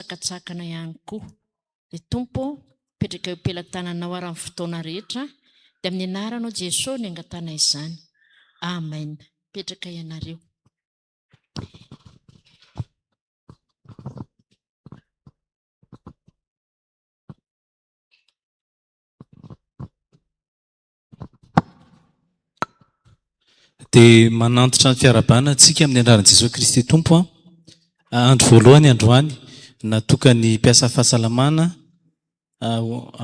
Sakantsakana ihany koa. Ry Tompo ô, apetraka eo am-pelatananao ary amin'ny fotoana rehetra, dia amin'ny anaranao Jeso no angatahana izany. Amen. Mipetraka ianareo. Dia manantitra ny fiarahabana antsika amin'ny anaran'i Jesoa Kristy Tompo. Andro voalohany androany natokan'ny mpiasa fahasalamana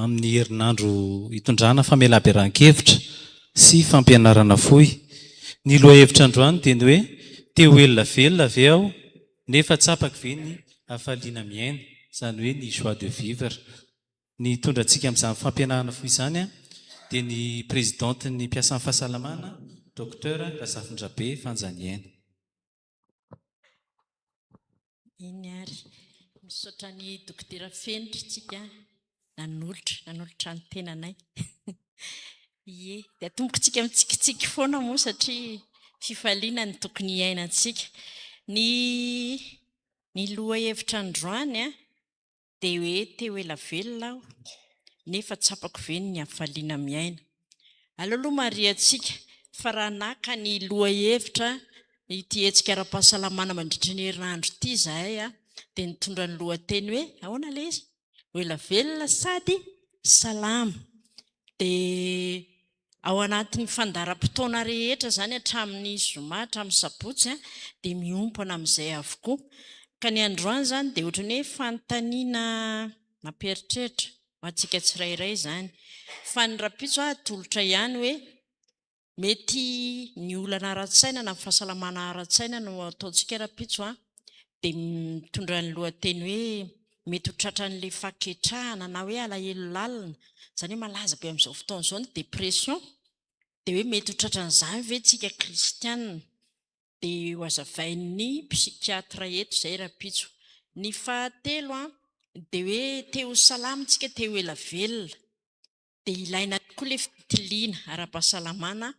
amin'ny herinandro hitondrana famelaberan-kevitra sy fampianarana fohy. Ny lohahevitra androany dia ny hoe te ho ela velona ve aho nefa tsapako ve ny hafaliana miaina, izany hoe ny joie de vivre. Ny hitondra antsika amin'izany fampihenana fo izany dia ny Prezidantin'ny mpiasan'ny fahasalamana, Docteur Razafindrabe Fanja Niaina. Eny ary. Misaotra an'i Dokotera Fenitra isika nanolotra, nanolotra ny tenanay. Ie. Dia atombokintsika mitsikitsiky foana moa satria fifaliana no tokony hiainantsika. Ny ny lohahevitra androany an! dia hoe te ho ela velona aho nefa tsapako ve ny hafaliana miaina? Aleo aloha mariantsika fa raha naka ny lohahevitra ity hetsika ara-pahasalamana mandritry ny herinandro ity izahay dia nitondra ny lohateny hoe ahoana ilay izy? ho ela velona sady salama dia Ao anatin'ny fandaharam-potoana rehetra izany hatramin'ny zoma hatramin'ny sabotsy dia miompana amin'izay avokoa. Ka ny androany izany dia ohatran'ny hoe fanontaniana mampieritreritra ho antsika tsirairay izany. Fa ny rahampitso aho atolotra ihany hoe mety ny olana ara-tsaina na fahasalamana ara-tsaina no ataontsika rahampitso an! dia mitondra ny lohateny hoe mety ho tratran'ilay fahaketrahana na hoe alahelo lalina, izany hoe malaza be amin'izao fotoana izao ny dépression, dia hoe mety ho tratran'izany ve isika kristiana? dia hozavain'ny psychiatre eto izay rahampitso. Ny fahatelo dia hoe te ho salama isika, te ho ela velona, dia ilaina tokoa ilay fitiliana ara-pahasalamana,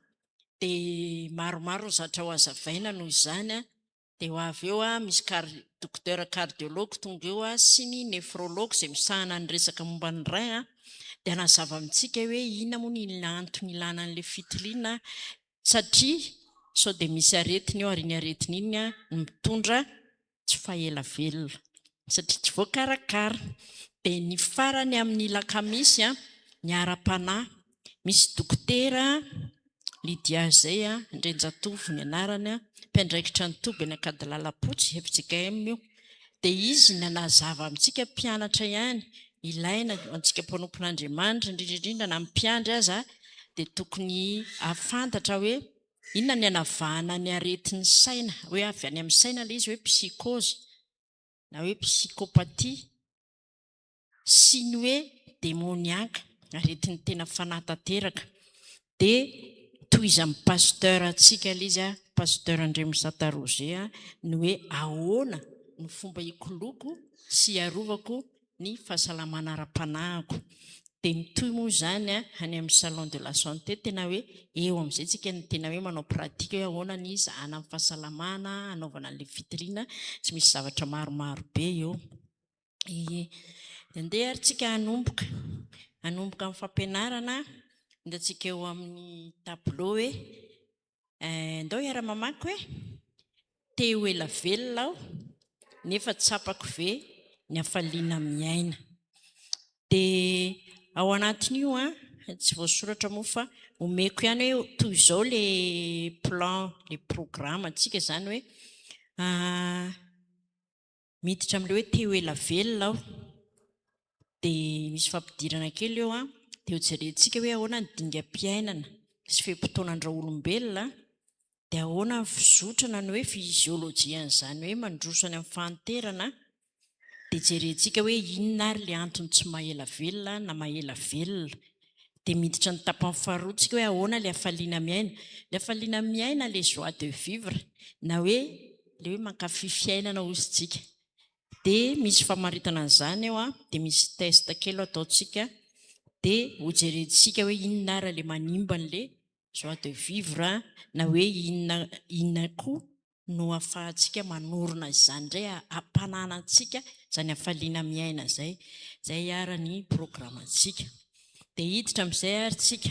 dia maromaro ny zavatra hozavaina noho izany, Dia ho avy eo misy kary Dokotera Kardiology tonga eo sy ny Nefrology izay misahana ny resaka momba ny rein a, dia hanazava amintsika hoe inona moa ny antony ilana an'ilay fitiliana satria sao dia misy aretina eo ary iny aretina iny no mitondra tsy fahela velona satria tsy voakarakara. Dia ny farany amin'ny lakamisy a, ny ara-panahy misy dokotera Lydia izay, Andrianjatovo ny anarany, mpiandraikitra ny toby any Ankadilalapotsy, fjkm io, dia izy no nanazava amintsika mpianatra ihany, ilaina ho antsika mpanompon'Andriamanitra, indrindra indrindra na ny mpiandry aza dia tokony hahafantatra hoe inona ny hanavahana ny aretin'ny saina, hoe avy any amin'ny saina ilay izy hoe psychose na hoe psychopathie. sy ny hoe demoniaka, aretin'ny tena fanahy tanteraka, dia tohizan'ny Pasteur antsika ilay izy, Pasteur Andriamisata Roger, ny hoe ahoana no fomba hikoloko sy hiarovako ny fahasalamana ara-panahiko. Dia mitohy moa izany any amin'ny Salon de la Santé, tena hoe eo amin'izay isika no tena hoe manao pratique hoe ahoana ny hizahana ny fahasalamana, hanaovana an'ilay fitoriana, tsy misy zavatra maromaro be eo. Ie. Dia andeha ary tsika hanomboka, hanomboka amin'ny fampianarana. Indro antsika eo amin'ny tableau hoe ndao hiara mamaky hoe te ho ela velona aho nefa tsapako ve ny hafaliana miaina. Dia ao anatin'io tsy voasoratra moa fa omeko ihany hoe toy izao le plan le programme antsika izany hoe Miditra amin'ilay hoe te ho ela velona aho. Dia misy fampidirana kely eo an, dia hojerentsika hoe ahoana ny dingam-piainana sy fe-potoanan-dRaolombelona, dia ahoana ny fizotry na ny hoe fiziolojian'izany hoe mandroso any amin'ny fahanterana, dia jerentsika hoe inona ary ilay antony tsy maha-ela velona na maha-ela velona. Dia miditra ny tapany faharoa tsika hoe ahoana ilay hafaliana miaina. Ilay hafaliana miaina, ilay joie de vivre na hoe ilay hoe mankafy fiainana hozy isika. Dia misy famaritana an'izany eo an, dia misy test kely ataontsika dia ho jerentsika hoe inona ary ilay manimba an'ilay joie de vivre na hoe inona inona koa no afahantsika manorina izany indray, hampanana antsika izany hafaliana miaina izay, izay ary ny programantsika. Dia hiditra amin'izay ary tsika.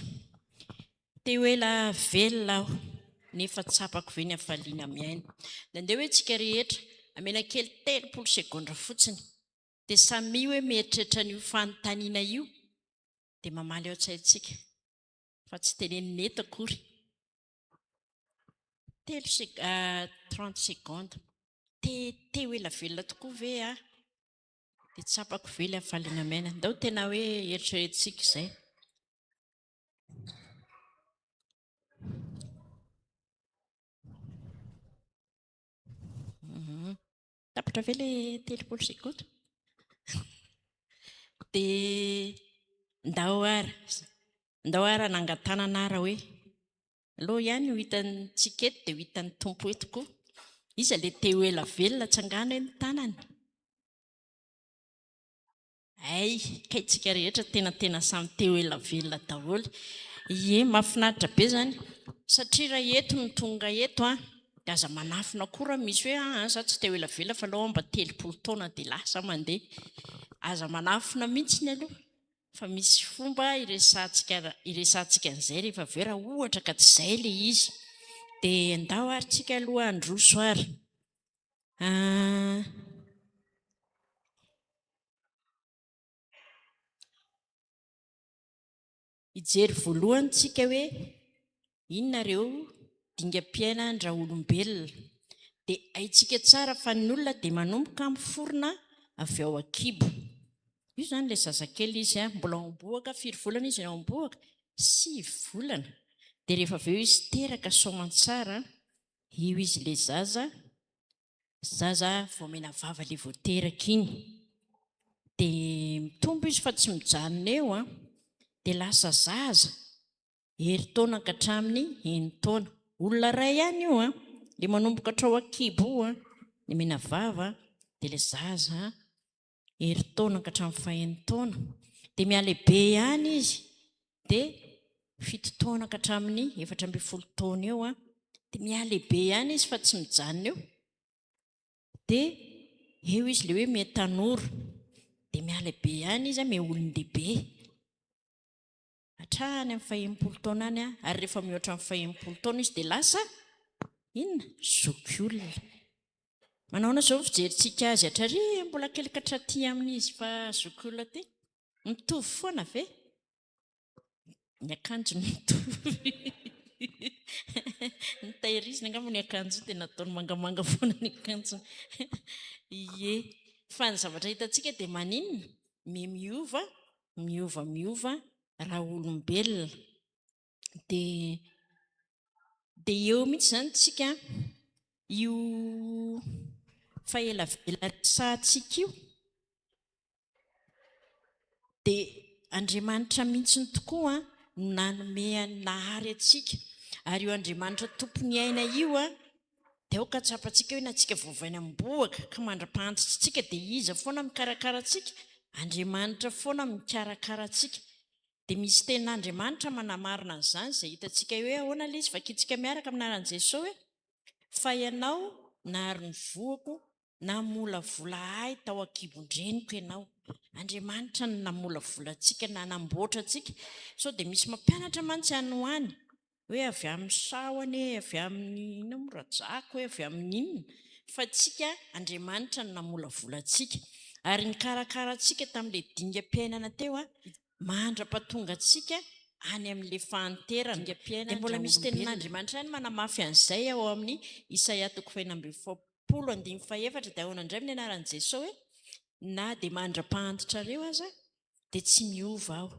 Te ho ela velona aho, nefa tsapako ve ny hafaliana miaina? Nandeha hoe tsika rehetra, amela kely telopolo segondra fotsiny, dia samia hoe mieritreritra an'io fanontaniana io, dia mamaly ao an-tsaintsika, fa tsy tenenina eto akory. Telo sec trente secondes. Te te ho ela velona tokoa ve aho dia tsapako ve ilay hafaliana miaina? Ndao tena hoe eritreretintsika izay. Tapitra ve ilay telopolo sy koto? Dia ndao ara, ndao ara nangan-tanana ara hoe aleo ihany ho hitan'ny tsika eto dia ho hitan'ny Tompo eto koa. Iza ilay te ho ela velona tsangano hoe ny tanany? Hay ka itsika rehetra tena tena samy te ho ela velona daholo ie mafinaritra be zany satria ra eto no tonga eto an de aza manafina koa ra misy hoe aa za tsy te ho ela velona fa aleo mba telopolo taona de lasa aho mande aza manafina mihitsy ny aloha fa misy fomba iresahantsika iresahantsika an'izay rehefa avy eo ra ohatra ka tsy zay le izy de ndao ary tsika aloha handroso ary Hijery voalohany isika hoe inona ireo dingam-piainan-draolombelona. Dia haintsika tsara fa ny olona dia manomboka miforona avy ao an-kibo. Io izany ilay zazakely izy, mbola ao am-bohoka. Firy volana izy ao am-bohoka? Sivy volana. Dia rehefa avy eo izy teraka soamantsara, Io izy le zaza, zaza vao omena vava le vao teraka iny de mitombo izy fa tsy mijanona eo an! de lasa zaza herintaona ankatramin'ny enintaona, olona ray ihany io an! le manomboka hatrao an-kibo io an! ny omena vava de le zaza herintaona ka hatramin'ny fahenin-taona, dia mihalehibe ihany izy, dia fito taona ka hatramin'ny efatra ambin'ny folo taona eo, dia mihalehibe ihany izy fa tsy mijanona eo. Dia eo izy ilay hoe miha tanora, dia mihalehibe ihany izy, miha olon-dehibe. hatrany amin'ny fahenimpolo taona any ary rehefa mihoatra amin'ny fahenimpolo taona izy dia lasa inona zoky olona manaona izao ny fijerintsika azy hatrary mbola kelikatra ty amin'izy fa zoky olona ty mitovy foana ve ny akanjo ny mitovy ny tairizina angamba ny akanjo dia nataony mangamanga foana ny akanjo ie fa ny zavatra hitantsika dia maninona me miova miova miova raha olombelona dia dia eo mihitsy izany isika io fahelavela resahantsika io dia Andriamanitra mihitsy ny tokoa no nanome an'ny Nahary antsika ary io Andriamanitra tompon'ny aina io Dia aoka hatsapantsika hoe na tsika voavaina amim-bohoka ka mandra-pahantitra antsika dia Iza foana mikarakara antsika? Andriamanitra foana mikarakara antsika. Dia misy tenin'Andriamanitra manamarina an'izany izay hitantsika hoe ahoana ilay izy, vakintsika miaraka amin'ny anaran'i Jesoa hoe, Fa Ianao nahary ny voako Namolavola ahy tao an-kibon-dreniko Ianao. Andriamanitra no namolavola antsika, nanamboatra antsika. Sao dia misy mampianatra mantsy any ho any hoe avy amin'ny saho anie, avy amin'ny inona moa, rajako hoe avy amin'ny inona. Fa antsika, Andriamanitra no namolavola antsika. Ary nikarakara antsika tamin'ilay dingam-piainana teo mandra-pahatonga antsika any amin'ilay fahanterana. Dia mbola misy tenin'Andriamanitra ihany manamafy an'izay ao amin'ny Isaia toko fahenina ambin'ny folo. folo andimy fahefatra dia ahoana indray amin'ny anaran'i Jesoa hoe na dia mandra-pahantitrareo aza dia tsy miova aho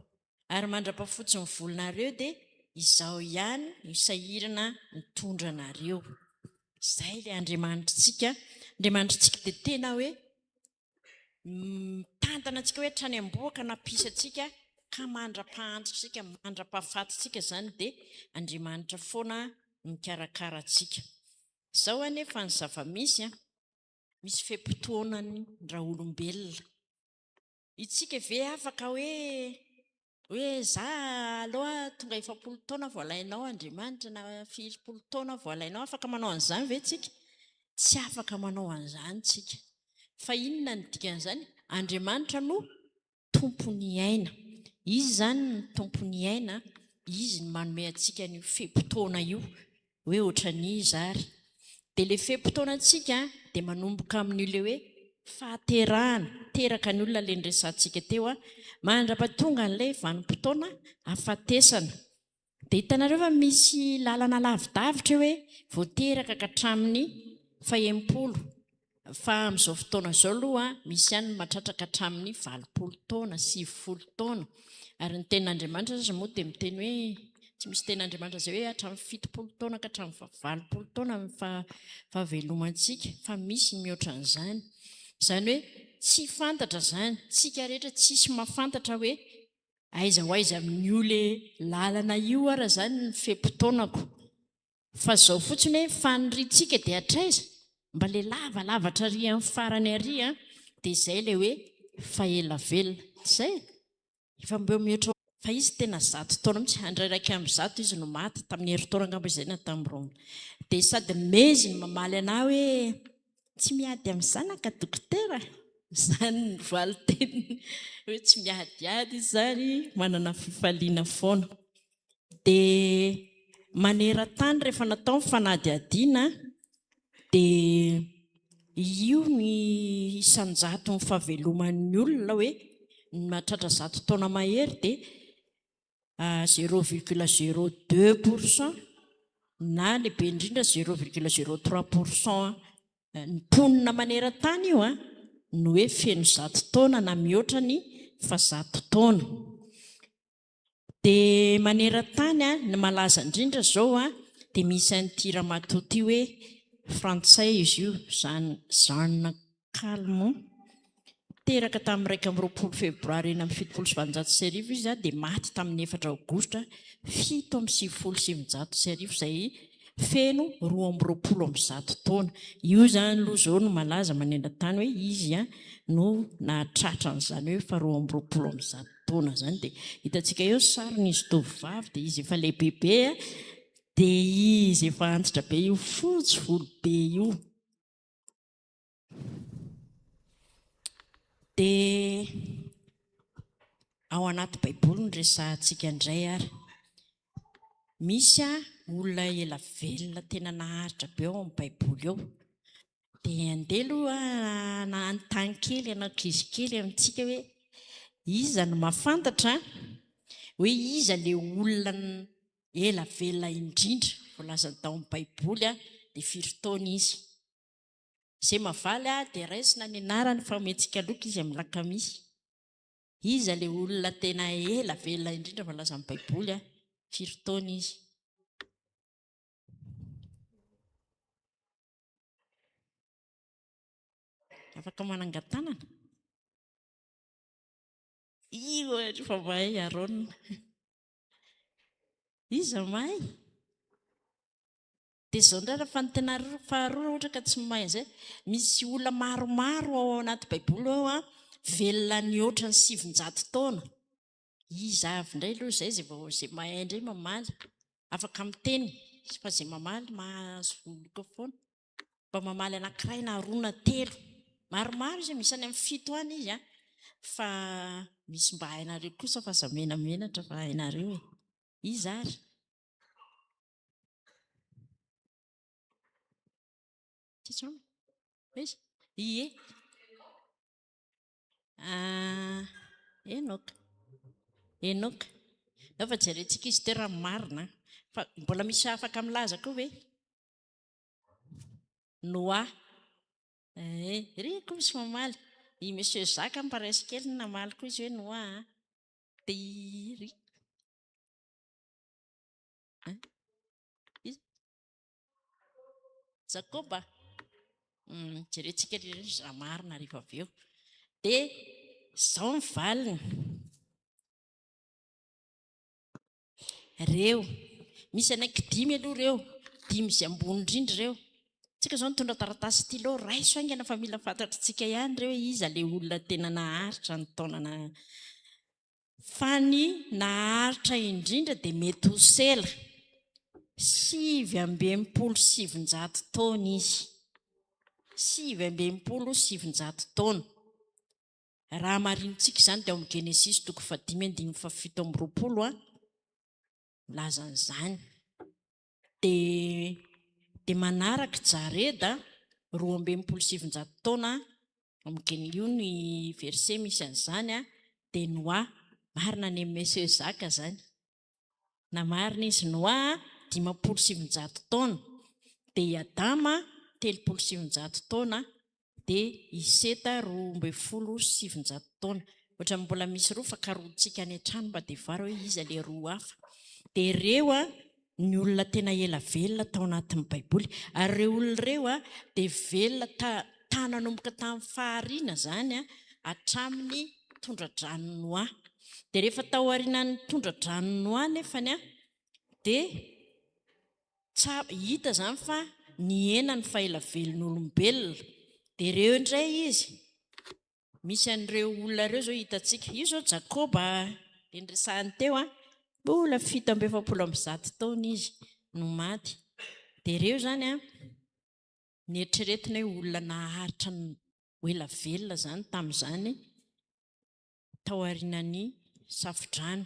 ary mandra-pafotsy ny volonareo dia izaho ihany no sahirana mitondra anareo. Izay ilay Andriamanitritsika. Andriamanitritsika dia tena hoe mitantana antsika hoe hatrany amboa ka nampisy antsika ka mandra-pahantritsika, mandra-pahafatintsika izany dia Andriamanitra foana mikarakara antsika. Izao anefa ny zava-misy an, misy fe-potoanan'ny ra-olombelona. Itsika ve afaka hoe Hoe za aloha tonga efapolo taona vao alainao Andriamanitra na firimpolo taona vao alainao, afaka manao an'izany ve tsika? Tsy afaka manao an'izany tsika. Fa inona ny dikan'izany? Andriamanitra no tompon'ny aina. Izy izany no tompon'ny aina, Izy no manome antsika an'io fe-potoana io. hoe otran'iza ary. Dia le fe-potoanantsika dia manomboka amin'io le hoe fahaterahana teraka ny olona le niresahantsika teo a. Mandrapa tonga an'ilay vanim-potoana afatesana. Dia hitanareo fa misy lalana lavidavitra eo hoe vao teraka ka hatramin'ny fahenimpolo. Fa amin'izao fotoana izao aloha, misy ihany ny matratraka hatramin'ny valopolo taona, sivifolo taona. Ary ny Tenin'Andriamanitra aza moa dia miteny hoe, tsy misy Tenin'Andriamanitra izay hoe hatramin'ny fitopolo taona ka hatramin'ny valopolo taona ny fahavelomantsika, fa misy ny mihoatra an'izany. Izany hoe tsy fantatra izany, tsika rehetra tsisy mahafantatra hoe aiza ho aiza amin'io ilay lalana io ara izany ny fe-potoanako. Fa zao fotsiny hoe faniriantsika dia hatraiza? Mba le lava lava hatrary amin'ny farany ary an! Dia zay le hoe fa ela velona. Tsy zay e? Efa mbeo mihoatra fa izy tena zato taona mihitsy, andra iraika amby zato izy no maty, tamin'ny herintaona angamba izay na tamin'ny roa amby. Dia sady meizy ny mamaly anah hoe tsy miady amin'ny zanaka dokotera? Izany ny valin-teniny hoe tsy miadiady izy izany, manana fifaliana foana. dia maneran-tany rehefa natao ny fanadihadiana dia io ny isan-jaton'ny fahaveloman'ny olona hoe ny mahatratra zato taona mahery dia zéro virgule zéro deux pour cent na lehibe indrindra zéro virgule zéro trois pour cent ny mponina maneran-tany io an no hoe feno zato taona na mihoatra ny fa zato taona. Dia maneran-tany an, ny malaza indrindra izao an, dia misy an'ity ramatoa ity hoe frantsay izy io, izany Jeanne Calment. Teraka tamin'ny iraika amby roapolo febroary enina amby fitopolo sy valonjato sy arivo izy an, dia maty tamin'ny efatra aogositra fito amby sivifolo sy sivinjato sy arivo izay feno roa amby roapolo amby zato taona. Io izany aloha izao no malaza maneran-tany hoe izy an no nahatratra an'izany hoe faharoa amby roapolo amby zato. taona izany dia hitantsika eo ny sarin'izy tovovavy dia izy efa lehibebe dia izy efa antitra be io fotsy volo be io dia ao anaty baiboly ny resahantsika indray ary Misy olona ela velona tena naharitra be ao amin'ny Baiboly ao. Dia andeha aloha hanontany kely anao ankizy kely amintsika hoe iza no mahafantatra hoe iza ilay olona ela velona indrindra voalaza tao amin'ny Baiboly dia firy taona izy. Izay mahavaly dia raisina ny anarany fa omentsika loka izy amin'ny lakamisy. Iza ilay olona tena ela velona indrindra voalazan'ny Baiboly, ary firy taona izy? Afaka manangan-tanana? Io ary fa mahay Arona. Iza mahay? Dia izao indray raha fanintena faharoa raha ohatra ka tsy mahay an'izay, misy olona maromaro ao anaty baiboly ao a, velona nihoatra ny sivinjato taona. Iza avy indray aloha izay izay vao izay mahay indray mamaly. Afaka miteny fa izay mamaly mahazo loka foana. Mba mamaly anankiray na roa na telo. Maromaro izy, misy any amin'ny fito any izy a. Fa misy mba hainareo kosa fa aza menamenatra fa hainareo e. Iza ary? Ie. Ah, Enoka. Enoka. Ao fa jerentsika izy teo raha marina an. Fa mbola misy afaka milaza koa ve? Noa. Eh, ry koa misy mamaly. I monsieur Zaka any paraissy kely no namaly koa izy hoe Noa an. Dia i ry. Hein? Iza? Jakoba? Hmm, jerentsika ry ireny raha marina rehefa avy eo. Dia izao ny valiny. Reo, misy anaiky dimy aloha reo, dimy izay ambony indrindra ireo. Tsika izao nitondra taratasy stylo, raiso haingana fa mila fantatritsika ihany ireo hoe iza ilay olona tena naharitra ny taonana Fa ny naharitra indrindra dia Metosela, sivy amby enimpolo sy sivinjato taona izy, sivy amby enimpolo sy sivinjato taona. Raha marinintsika izany dia ao amin'ny Genesisy toko fahadimy andininy fahafito amby roapolo no milaza an'izany. Dia dia manaraka i Jared a, roa amby enimpolo sy sivinjato taona, amin'gny io ny verset misy an'izany a, dia Noa, marina anie Monsieur Zaka zany, na marina izy Noa a, dimampolo sy sivinjato taona, dia i Adama, telopolo sy sivinjato taona, dia i Seta roa ambin'ny folo sy sivinjato taona. Ohatran'ny mbola misy roa fa karohintsika any an-trano mba devoara hoe iza ilay roa hafa. Dia ireo ny olona tena ela velona tao anatin'ny Baiboly. Ary ireo olona ireo dia velona ta, nanomboka tamin'ny fahariana izany hatramin'ny tondra-dranon'i Noa. Dia rehefa taorianan'ny tondra-dranon'i Noa anefany dia Tsara, hita izany fa nihena ny faela velon'olombelona. Dia ireo indray izy, misy an'ireo olona ireo izao hitantsika. Io izao Jakoba dia niresahany teo, mbola fito amby efapolo amby zato taona izy no maty. Dia ireo izany, noeritreretina hoe olona naharitra ho ela velona izany tamin'izany, tao aorianan'ny Safodrano.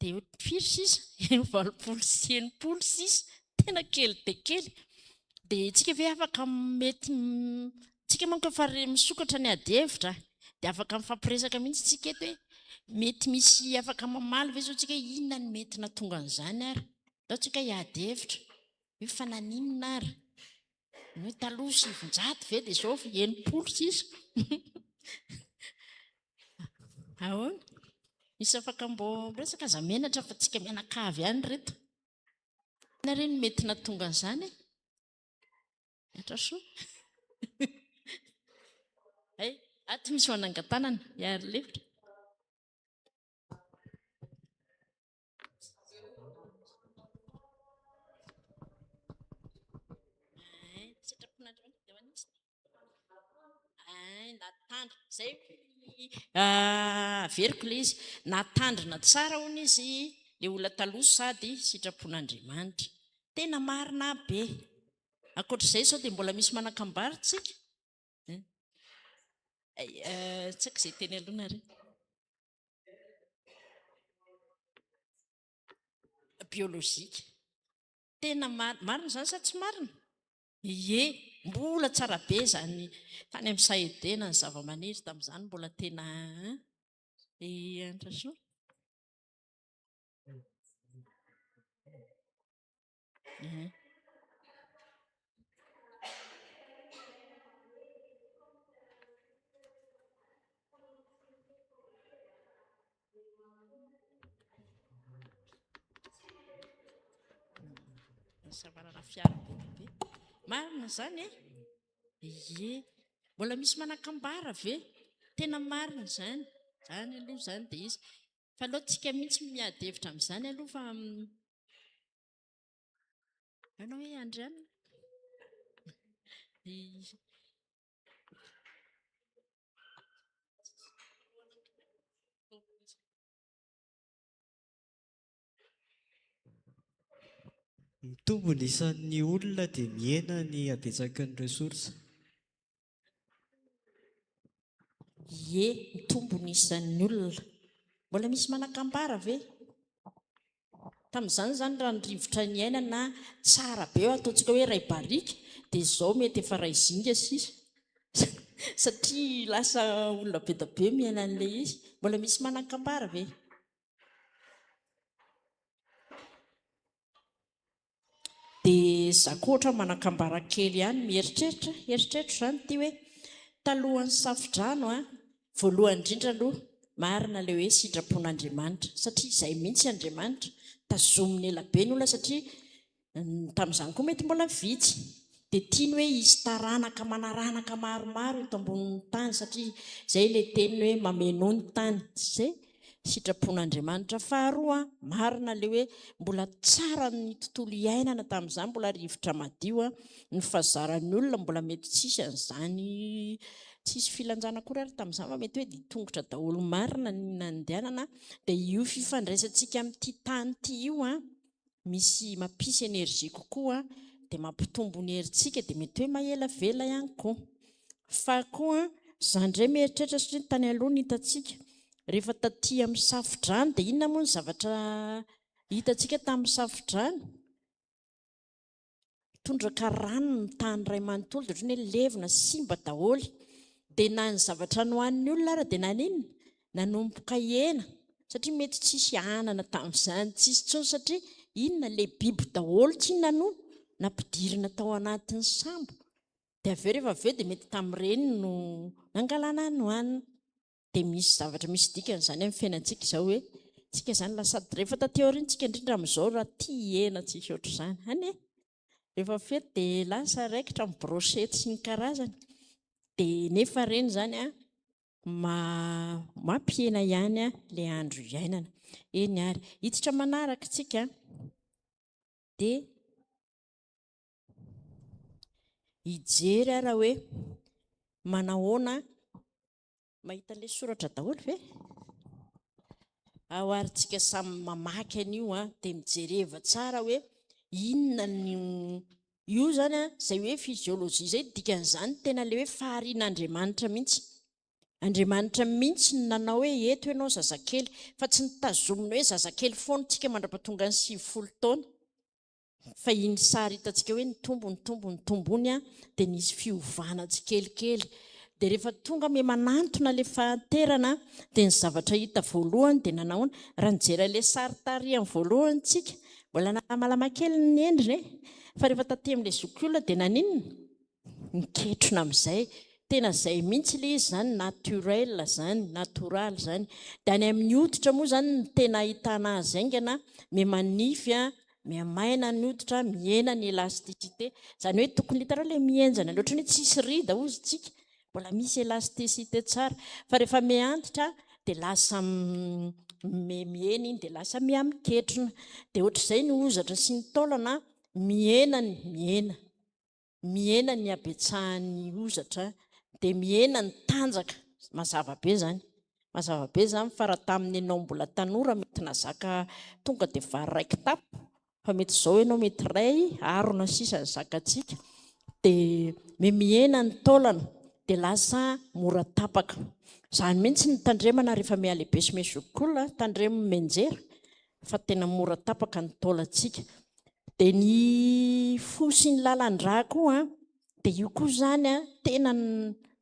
Dia eo firy sisa? Eo valopolo sy enimpolo sisa. Tena kely dia kely. Dia isika ve afaka mety isika manko efa misokatra ny adihevitra dia afaka mifampiresaka mihitsy isika eto hoe mety misy afaka mamaly ve izao isika inona ny mety natonga an'izany ary. Ataontsika hiady hevitra hoe fa naninona ary. Moa taloha sivinjato ve dia izao enimpolo sisa? Ahoana? Misy afaka mbô miresaka aza menatra fa tsika mianakavy ihany reto. Inona re ny mety natonga an'izany? Miatra soa. Hay, aty misy manangan-tanana, hiaro lefitra. Averiko ilay izy, nahatandrina tsara hono izy ilay olona taloha sady sitrapon'Andriamanitra. Tena marina be. Ankoatr'izay izao dia mbola misy manan-kambary isika. Tsy haiko izay teny aloha nareo. biolojika. Tena marina izany sa tsy marina? Ie, mbola tsara be izany tany amin'ny sahedena ny zavamaniry tamin'izany mbola tena Ehe. Savarana fiara be. Marina izany e? Ye. Mbola misy manakambara ve? Tena marina izany. Izany aloha izany dia izy. Fa aleo tsika mihitsy no miady hevitra amin'izany aloha fa Ahoana hoe Andry an? Mitombo ny isan'ny olona dia mihena ny habetsaky ny ressources. Ie, mitombo ny isan'ny olona. Mbola misy manan-kambara ve? Tamin'izany izany raha ny rivotra niainana tsara be eo, ataontsika hoe iray barika, dia izao mety efa iray zinga sisa satria lasa olona be dia be miaina an'ilay izy. Mbola misy manan-kambara ve? Dia za koa ohatra manakambara kely ihany mieritreritra, eritreritro zany ity hoe talohan'ny safodrano an, voalohany indrindra aloha marina le hoe sitrapon'Andriamanitra satria izay mihitsy Andriamanitra, tazominy ela be ny olona satria tamin'izany koa mety mbola vitsy dia tiany hoe hisy taranaka manaranaka maromaro eto ambonin'ny tany satria izay ilay teny hoe mamenoa ny tany izay sitrapon'Andriamanitra faharoa marina ilay hoe mbola tsara ny tontolo iainana tamin'izany mbola rivotra madio ny fazaran'ny olona mbola mety tsisy an'izany tsisy filanjana akory ary tamin'izany fa mety hoe dia tongotra daholo marina ny nandehanana dia io fifandraisantsika amin'ity tany ity io an misy mampisy energie kokoa dia mampitombo ny herintsika dia mety hoe mahelavela ihany koa fa koa za ndray mieritreritra satria ny tany aloha no hitantsika rehefa taty amin'ny safodrano dia inona moa ny zavatra hitantsika tamin'ny safodrano? Tondraka rano ny tany iray manontolo dia ohatran'ny hoe levona, simba daholo. Dia na ny zavatra nohanin'ny olona ary dia naninona? Nanomboka hena, satria mety tsisy anana tamin'izany, tsisy intsony satria inona? Ilay biby daholo tsinona no nampidirina tao anatin'ny sambo. Dia avy eo rehefa avy eo dia mety tamin'ireny no nangalana ny nohanina. dia misy zavatra misy dikany izany amin'ny fiainantsika izao hoe tsika izany lasa sady rehefa taty aoriana tsika indrindra amin'izao raha tia hihena tsisy ohatr'izany any e rehefa fety dia lasa raikitra amin'ny brochette sy ny karazany dia nefa ireny izany an ma mampihena ihany an ilay andro iainana eny ary hiditra manaraka tsika dia hijery ara hoe manahoana Mahita ilay soratra daholo ve? Ao ary tsika samy mamaky an'io a, dia mijereva tsara hoe inona ny io zany a, izay hoe physiologie izay dikan'izany tena ilay hoe faharian'Andriamanitra mihitsy. Andriamanitra mihitsy no nanao hoe eto ianao zazakely, fa tsy ny tazomina hoe zazakely foana tsika mandra-pahatonga ny sivifolo taona. Fa iny sary hitantsika hoe nitombo nitombo nitombo iny dia nisy fiovana tsikelikely. Dia rehefa tonga me manantona ilay fahanterana dia ny zavatra hita voalohany dia nanahoana? Raha nijery an'ilay sary tarihany voalohany tsika, mbola nahamalama kely ny endriny e! Fa rehefa tatemin'ilay zokiolona dia naninona? miketrona amin'izay, tena izay mihitsy ilay izy izany, naturel izany, natoraly izany. Dia any amin'ny hoditra moa izany no tena ahitana azy haingana, miha-manify, miha-maina ny hoditra, mihena ny elasticité. Izany hoe tokony hitanao ilay mihenjana ilay ohatran'ny hoe tsisy rida hozy isika, mbola misy elasticité tsara. Fa rehefa miha-antitra dia lasa mihena iny dia lasa miha-miketrona. Dia ohatr'izay ny hozatra sy ny taolana mihena ny mihena. mihena ny habetsahan'ny hozatra dia mihena ny tanjaka mazava be zany mazava be zany fa raha tamin'ny ianao mbola tanora mety nazaka tonga dia vary iray kitapo fa mety izao ianao mety iray arona sisa ny zakantsika dia me mihena ny taolana dia lasa mora tapaka izany mihitsy ny tandremana rehefa mihalehibe sy mesokola tandremo menjera fa tena mora tapaka ny taolantsika dia ny fo sy ny lalan-drà koa an dia io koa izany an tena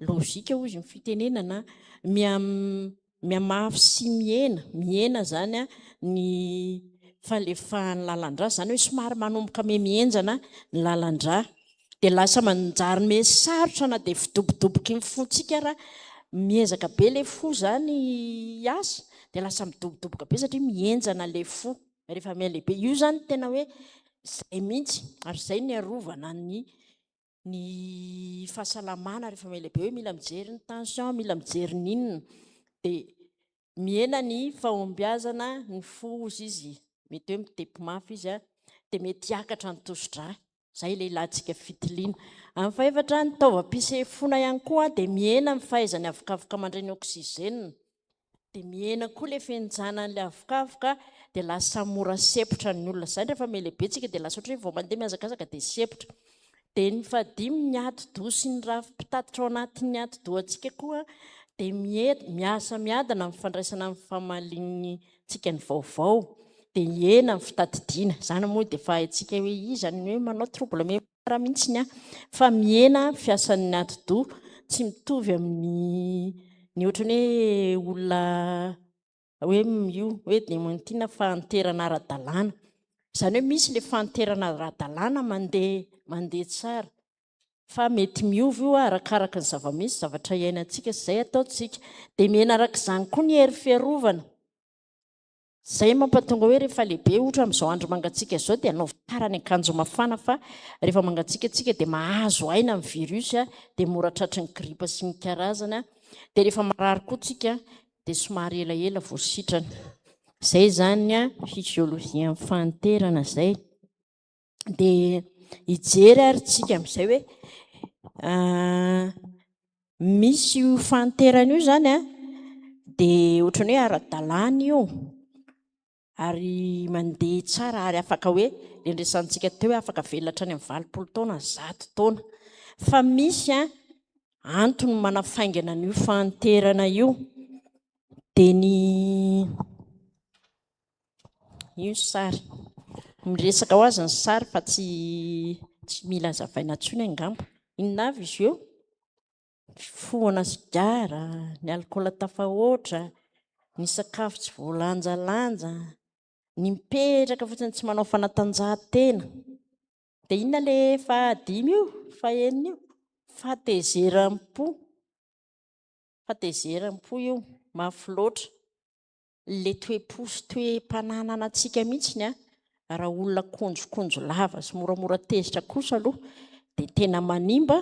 logika hoy izy ny fitenenana mihamafy sy mihena mihena izany an ny falefahan'ny lalan-drà izany hoe somary manomboka mihamihenjana ny lalan-drà dia lasa manjary me sarotra na dia fidobodoboky ny fontsika ara miezaka be le fo zany hiasa dia lasa midobodoboka be satria mihenjana le fo rehefa miha-lehibe io zany tena hoe zay mihitsy ary zay ny arovana ny ny fahasalamana rehefa miha-lehibe hoe mila mijery ny tension mila mijery ny inona dia Mihena ny fahombiazana ny fo hozy izy, mety hoe mitepy mafy izy an, dia mety hiakatra ny tosi-drà, izay ilay ilantsika fitiliana. Amin'ny fahefatra, ny taovam-pisefoana ihany koa dia mihena ny fahaizany avokavoka mandray ny oxygène, dia mihena koa ilay fihinjanan'ilay avokavoka, dia lasa mora sepotra ny olona, izany rehefa mihalehibe tsika dia lasa ohatran'ny hoe vao mandeha mihazakazaka dia sepotra, Dia ny fahadimy, ny ati-doha sy ny rafi-pitatitra ao anatin'ny ati-dohantsika koa dia miety, miasa miadana amin'ny fandraisana ny famaliantsika ny vaovao, dia hihena ny fitadidiana. Izany moa dia efa haintsika hoe iza ny hoe manao trouble mémoire mihitsy an! Fa mihena ny fiasan'ny ati-doha, tsy mitovy amin'ny ny ohatran'ny hoe olona hoe io hoe dementina fahanterana ara-dalàna, izany hoe misy ilay fahanterana ara-dalàna mandeha mandeha tsara fa mety miova io arakaraka ny zava-misy zavatra iainantsika sy izay ataontsika, dia mihena araka izany koa ny hery fiarovana, izay mampatonga hoe rehefa lehibe ohatra amin'izao andro mangatsiaka izao dia anaovy tsara ny akanjo mafana fa rehefa mangatsiaka tsika dia mahazo aina ny virus dia mora tratry ny gripa sy ny karazany dia rehefa marary koa tsika dia somary elaela vao sitrana. Izay izany a, fisiôlôjian'ny fahanterana izay. Dia hijery ary tsika amin'izay hoe misy io fahanterana io izany a, dia ohatran'ny hoe ara-dalàna io. ary mandeha tsara ary afaka hoe le ndresantsika teo hoe afaka velona hatrany amin'ny valopolo taona zato taona fa misy a antony manafaingana an'io fahanterana io de ny io sary miresaka ho azy ny sary fa tsy tsy mila azavaina tsony angamba inona avy izy eo fifohana sigara, ny alikaola tafahoatra, ny sakafo tsy voalanjalanja, ny mipetraka fotsiny tsy manao fanatanjahantena. Dia inona ilay fahadimy io, fahenina io? Fahatezeram-po. Fahatezeram-po io, mafy loatra. Ilay toe-po sy toe-pananana antsika mihitsy ny an! Raha olona konjokonjo lava sy moramora tezitra kosa aloha dia tena manimba,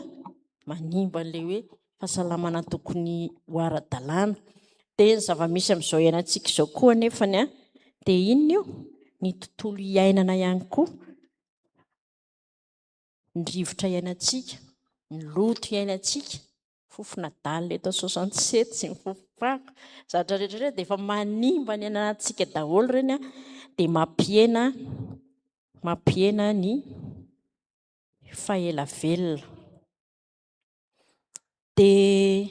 manimba an'ilay hoe fahasalamana tokony ho ara-dalàna. Dia ny zava-misy amin'izao iainantsika izao koa anefa ny an! Dia inona io? Ny tontolo iainana ihany koa, ny rivotra iainantsika, ny loto iainantsika, Fofon'adala eto soixante sept sy ny fofom-pako, zavatra rehetra rehetra dia efa manimba ny ananantsika daholo ireny a, dia mampihena mampihena ny faela velona. Dia.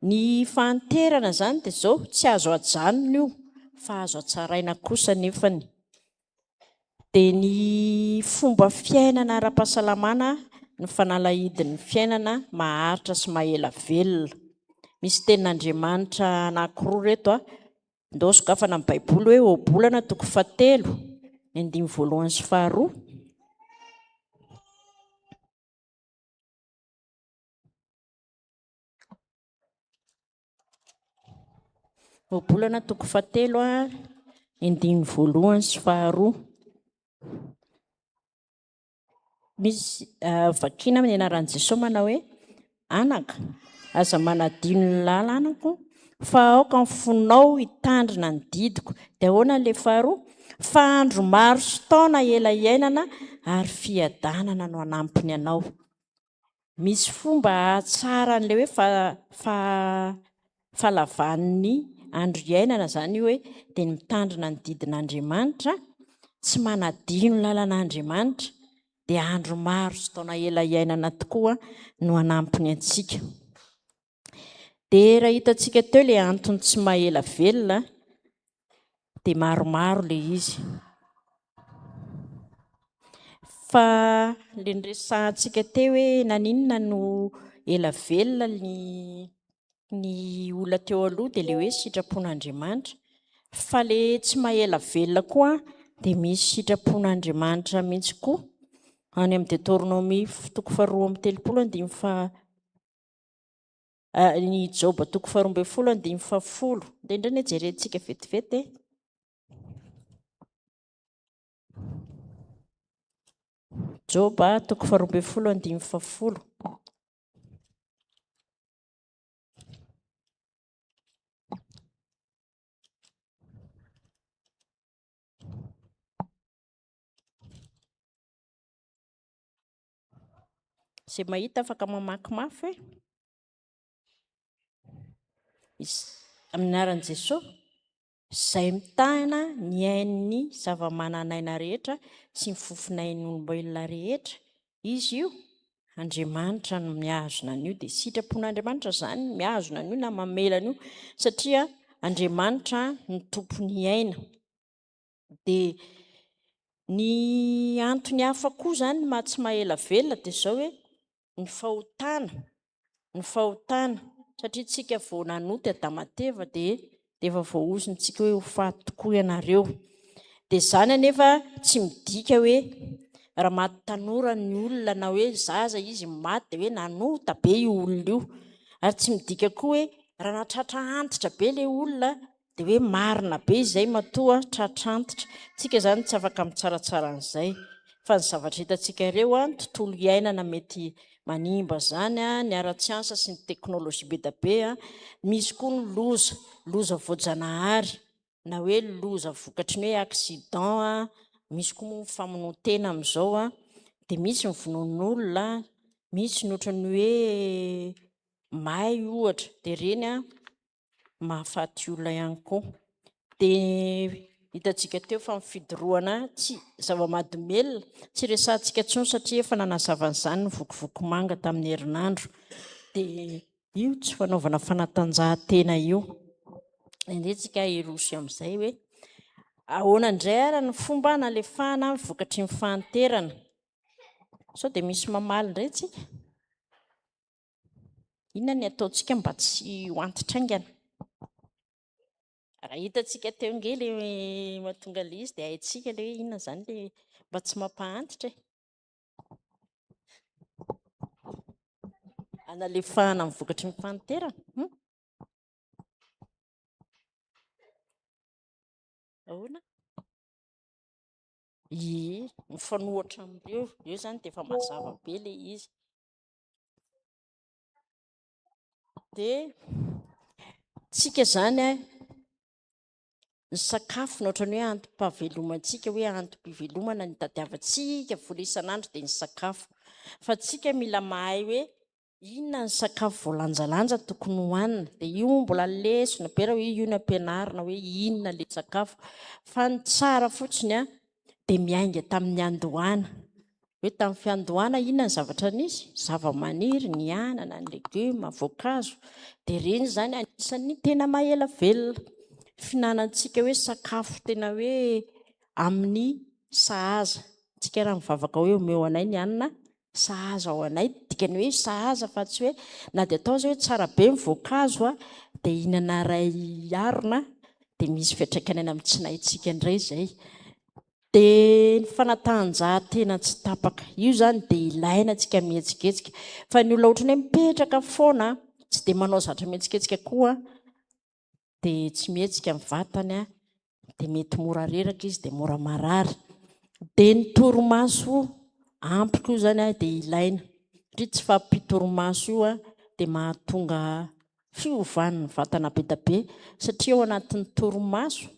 Ny fahanterana izany dia izao, tsy azo ajanona io fa azo atsaraina kosa nefany. Dia ny fomba fiainana ara-pahasalamana, ny fanalahidin'ny fiainana maharitra sy mahela velona. Misy tenin'Andriamanitra anankiroa ireto an, ndao sokafana amin'ny baiboly hoe Ohabolana toko fahatelo, ny andininy voalohany sy faharoa, Ohabolana toko fahatelo a, endininy voalohany sy faharoa. Misy ah, vakina amin'ny anaran'i Jesoa manao hoe anaka, aza manadino ny lalanako fa aoka ny fonao hitandrina ny didiko. Dia ahoana ilay faharoa? Fa andro maro sy taona ela iainana ary fiadanana no hanampiny anao. Misy fomba hahatsara an'ilay hoe fa- fa- fahalavan'ny andro iainana izany io hoe dia ny mitandrina ny didin'Andriamanitra, tsy manadino ny lalan'Andriamanitra, dia andro maro sy taona ela iainana tokoa no hanampy ny antsika. Dia raha hitantsika teo ilay antony tsy maha-ela velona dia maromaro ilay izy. Fa ilay niresahantsika teo hoe naninona no ela velona ny ny olona teo aloha dia ilay hoe sitrapon'Andriamanitra. Fa ilay tsy maha-ela velona koa dia misy sitrapon'Andriamanitra mihitsy koa. Any amin'ny Detornomia toko faharoa amby telopolo andininy faha Ny Joba toko faharoa ambin'ny folo andininy fahafolo. Dia indray ny jerentsika vetivety e. Joba toko faharoa ambin'ny folo andininy fahafolo. Izay mahita afaka mamaky mafy hoe amin'ny anaran'i Jesoa izay mitahina ny ain'ny zava-manan'aina rehetra sy ny fofonain'olombelona rehetra izy io Andriamanitra no mihazona an'io dia sitrapon'Andriamanitra izany mihazona an'io na mamela an'io satria Andriamanitra ny tompon'ny aina Dia ny antony hafa koa izany maha tsy maha-ela velona dia izao hoe ny fahotana, ny fahotana, satria isika vao nanota i Adama sy Eva dia dia efa voahozintsika hoe ho faty tokoa ianareo. Dia izany anefa tsy midika hoe raha maty tanora ny olona na hoe zaza izy no maty dia hoe nanota be io olona io. Ary tsy midika koa hoe raha nahatratra antitra be ilay olona Dia hoe marina be izay matoa tratrantitra. Tsika izany tsy afaka mitsaratsara an'izay. Fa ny zavatra hitantsika ireo, ny tontolo iainana mety manimba izany, ny ara-tsiansa sy ny teknolojia be dia be. Misy koa ny loza, loza voajanahary, na hoe loza vokatry ny hoe accident, misy koa moa ny famonoan-tena amin'izao, dia misy ny vonoan'olona, misy ny ohatran'ny hoe may ohatra. Dia ireny mahafaty olona ihany koa. Dia hitantsika teo fa ny fidorohana tsy zava-mahadomelina, tsy resahantsika intsony satria efa nanazava an'izany ny vokovoko manga tamin'ny herinandro. Dia io tsy fanaovana fanatanjahantena io. Indraindray tsika hiroso amin'izay hoe ahoana indray ary ny fomba nalefahana ny vokatry ny fahanterana. Sao dia misy mamaly indray tsika? Inona ny ataontsika mba tsy ho antitra haingana? Raha hitantsika teo ange ilay mahatonga an'ilay izy dia haintsika ilay hoe inona izany ilay mba tsy mampahantitra e. Hanalefahana ny vokatry ny fahanterana. Hmm? Ahoana? Ie, mifanohatra amin'ireo. Eo izany dia efa mazava be ilay izy. dia tsika izany a ny sakafo no ohatran'ny hoe antom-pahavelomantsika hoe antom-pivelomana ny tadiavantsika vola isan'andro dia ny sakafo fa tsika mila mahay hoe inona ny sakafo voalanjalanja tokony hohanina dia io mbola lesona be raha hoe io ny ampianarina hoe inona ilay sakafo fa ny tsara fotsiny a dia miainga tamin'ny andohana. Hoe tamin'ny fiandohana inona ny zavatra nisy? Zavamaniry, ny anana, ny legioma, voankazo. Dia ireny izany anisan'ny tena maha-ela velona. Fihinanantsika hoe sakafo tena hoe amin'ny sahaza. Antsika raha mivavaka hoe omeo anay ny hanina Sahaza ao anay, dikany hoe sahaza fa tsy hoe na dia atao aza hoe tsara be ny voankazo a, dia hinana iray harona dia misy fiantraikany any amin'ny tsinahintsika indray izay. Dia ny fanatanjahantena tsy tapaka, io izany dia ilaina antsika mihetsiketsika, fa ny olona ohatran'ny hoe mipetraka foana tsy dia manao zatra mihetsiketsika koa dia tsy mihetsika ny vatany an, dia mety mora reraka izy dia mora marary. Dia ny torimaso ampy koa izany an dia ilaina, satria tsy fahampian-torimaso io an dia mahatonga fiovan'ny vatana be dia be, satria ao anatin'ny torimaso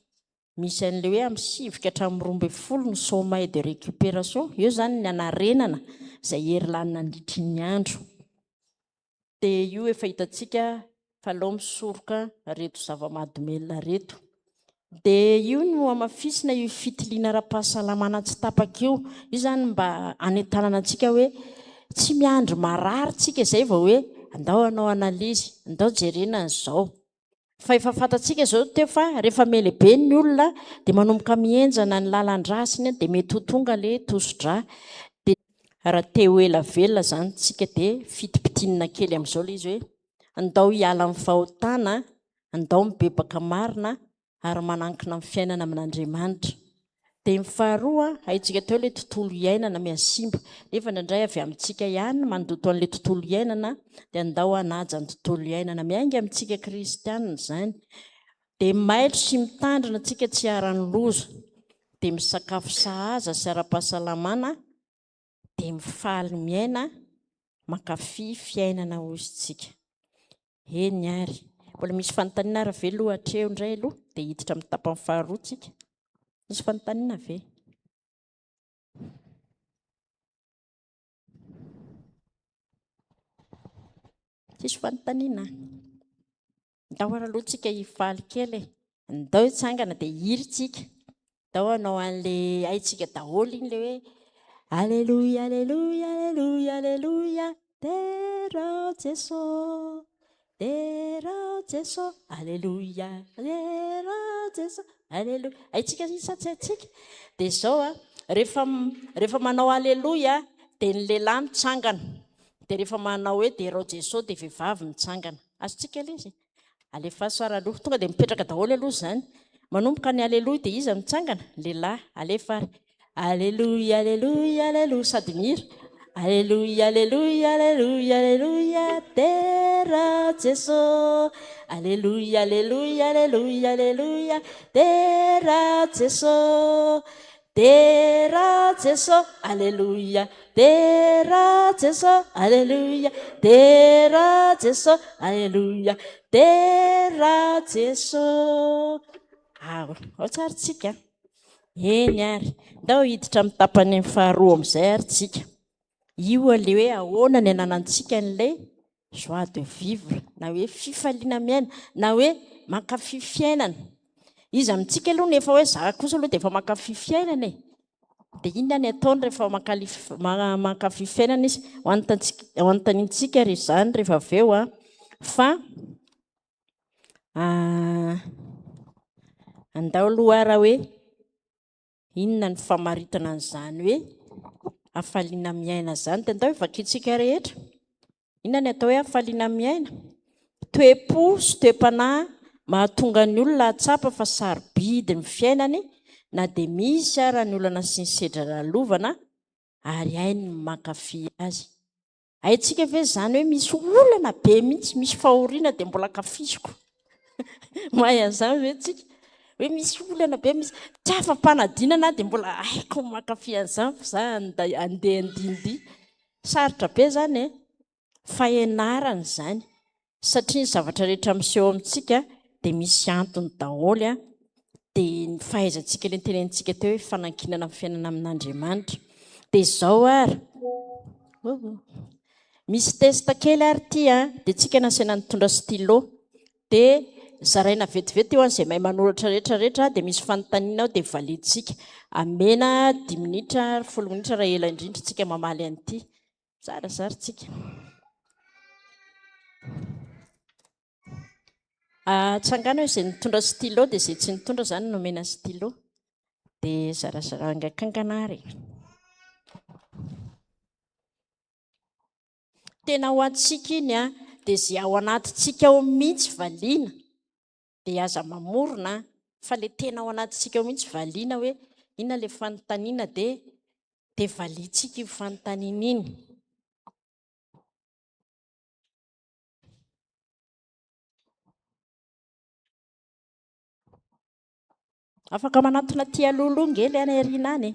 misy an'ilay hoe amin'ny sivy ka hatramin'ny roa ambin'ny folo ny sommeil de récupération, eo izany ny hanarenana izay hery lany nandritry ny andro. dia io efa hitantsika fa aleo misoroka reto zava-mahadomelina reto. Dia io no hamafisina io fitiliana ara-pahasalamana tsy tapaka io. Io zany mba hanentanana antsika hoe tsy miandry marary tsika izay vao hoe andao hanao analyse, andao jerena an'izao. Fa efa fantatsika izao ny teo fa rehefa melehibe ny olona dia manomboka mihenjana ny lalan-drasiny dia mety ho tonga ilay tosi-drà. Dia raha te ho ela velona izany isika dia fitipitinina kely amin'izao ilay izy hoe andao hiala amin'ny fahotana, andao mibebaka marina ary manankina amin'ny fiainana amin'Andriamanitra. Dia ny faharoa, haintsika teo ilay tontolo iainana mihasimba, nefa indraindray avy amintsika ihany ny mandoto an'ilay tontolo iainana, dia andao hanaja ny tontolo iainana. Miainga amintsika kristianina izany. Dia mailo sy mitandrina antsika tsy hiharan'ny loza. Dia misakafo sahaza sy ara-pahasalamana, dia mifaly miaina, mankafy fiainana hoy isika. Eny ary. Mbola misy fanontaniana ary ve aloha hatreo indray aloha dia hiditra amin'ny tapany faharoa tsika. Misy fanontaniana ve? Tsisy fanontaniana? Ndao ary aloha tsika hifaly kely e. Ndao hitsangana dia hiry tsika. Dao hanao an'le haitsika daholo iny le hoe Aleloia Aleloia Aleloia Aleloia Derao Jeso Derao Jeso Aleloia Derao Jeso Aleloia Haitsika zany sa tsy haitsika? Dia izao a rehefa rehefa manao Aleloia dia ny lehilahy mitsangana dia rehefa manao hoe Derao Jeso dia vehivavy mitsangana Azontsika lesy e? Alefaso ary aloha. Tonga dia mipetraka daholo aloha izany. Manomboka ny Aleloia dia iza no mitsangana? Ny lehilahy. Alefa ary. Aleloia, aleloia, aleloia. Sady mihira. Aleloia, aleloia, aleloia, aleloia. Dera Jeso. Aleloia, aleloia, aleloia, aleloia. Dera Jeso. Dera Jeso Aleloia Dera Jeso Aleloia Dera Jeso Aleloia Dera Jeso Ao ao tsary tsika Eny ary ndao hiditra amin'ny tapany faharoa amin'izay ary tsika Io aleha hoe ahoana ny ananantsika an'ilay Joie de vivre na hoe fifaliana miaina na hoe mankafy fiainana. Iza amintsika aloha no efa hoe za kosa aloha dia efa mankafy fiainana e? Dia inona ny ataony rehefa mankafy fiainana izy? Ho anontaniantsika ary izany rehefa avy eo an! Fa andao aloha ary hoe Inona ny famaritana an'izany hoe hafaliana miaina izany? Dia ndao ivakiantsika rehetra. Inona ny atao hoe hafaliana miaina? Toe-po sy toe-panahy mahatonga ny olona hahatsapa fa sarobidy ny fiainany na dia misy ara ny olana sy ny sedra lalovana ary hainy ny mankafy azy. Haintsika ve izany hoe misy olana be mihitsy, misy fahoriana dia mbola kafiziko. Mahay an'izany ve tsika? Hoe misy olana be, misy tsy afa-panadinana dia mbola haiko mankafy an'izany fa za handeha handihindihy. Sarotra be izany e! Fahenarana izany. satria ny zavatra rehetra miseho amintsika dia misy antony daholo, dia ny fahaizantsika ilay notenenintsika teo hoe fanankinana amin'ny fiainana amin'Andriamanitra, dia izao ary misy test kely ary ity a, dia tsika nasaina nitondra stylo, dia zaraina vetivety eo an'izay mahay manoratra rehetra rehetra, dia misy fanontaniana ao dia validintsika, amena dimy minitra ary folo minitra raha ela indrindra tsika mamaly an'ity. Zarazary tsika. Atsangano izay nitondra stylo dia izay tsy nitondra izany nomena stylo. Dia zarazara angakankana ary. Tena ho antsika iny dia izay ao anatintsika ao mihitsy valiana. dia aza mamorona an! fa ilay tena ao anatintsika ao mihitsy valiana hoe inona ilay fanontaniana dia dia valiantsika iny fanontaniana iny. Afaka manatona aty aloha aloha ngely any aoriana any e.